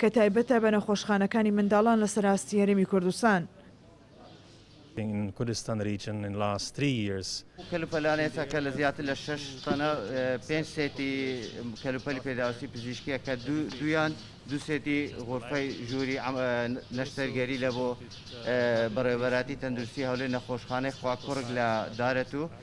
کە تایبەتە بە نەخۆشخانەکانی منداڵان لەسەر ئاستی هەرێمی کوردستان. ئەو کەلوپەلانەی تەکە لە زیاتر لە شەش تەنە پێنج سێتی کەلوپەلی پێداویستی پزیشکییە کە دوویان دوو سێتی غورفەی ژووری نەشتەرگەری لە بۆ بەڕێوەبەرایەتی تەندروستی هەولێر نەخۆشخانەی خواکوڕک لە دارەتوو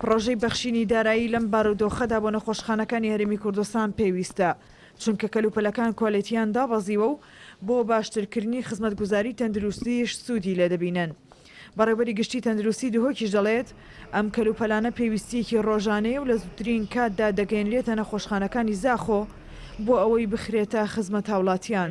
پڕۆژەی بەخشینی دارایی لەم بارودۆخەدا بۆ نەخۆشخانەکانی هەرێمی کوردستان پێویستە، چونکە کەلوپەلەکان کوالێتییان دابەزیوە و بۆ باشترکردنی خزمەتگوزاری تەندروستیش سوودی لێ دەبینن. بەڕێوبەری گشتی تەندروستی دهۆکیش دەڵێت، ئەم کەلوپەلانە پێویستییەکی ڕۆژانەیە و لە زووترین کاتدا دەگەیەنرێتە نەخۆشخانەکانی زاخۆ بۆ ئەوەی بخرێتە خزمەت هاوڵاتیان.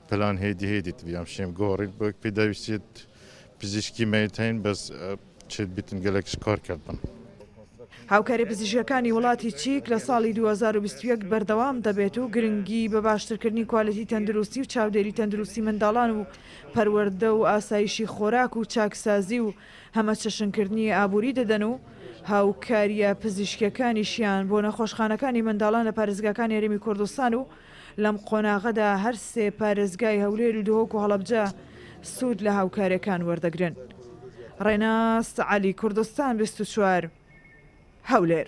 پلان هێدی هێدی تبیام شێم گۆڕید بۆ پێداویستیت پزیشکی مەیتین بەس چێت بیتن گەلەکش کار کردن. هاوکاری پزیشکەکانی وڵاتی چیک لە ساڵی دوو هەزار و بیست و یەک بەردەوام دەبێت و گرنگی بە باشترکردنی کوالێتی تەندروستی و چاودێری تەندروستی منداڵان و پەروەردە و ئاسایشی خۆراک و چاکسازی و هەمەچەشنکردنی ئابووری دەدەن و هاوکارییە پزیشکییەکانیشیان بۆ نەخۆشخانەکانی منداڵان لە پارێزگاکانی هەرێمی کوردستان و لەم قۆناغەدا هەر سێ پارێزگای هەولێر و دهۆک و هەڵەبجە سوود لە هاوکارییەکان وەردەگرن. ڕێناس عەلی، کوردستان بیست و چوار، هەولێر.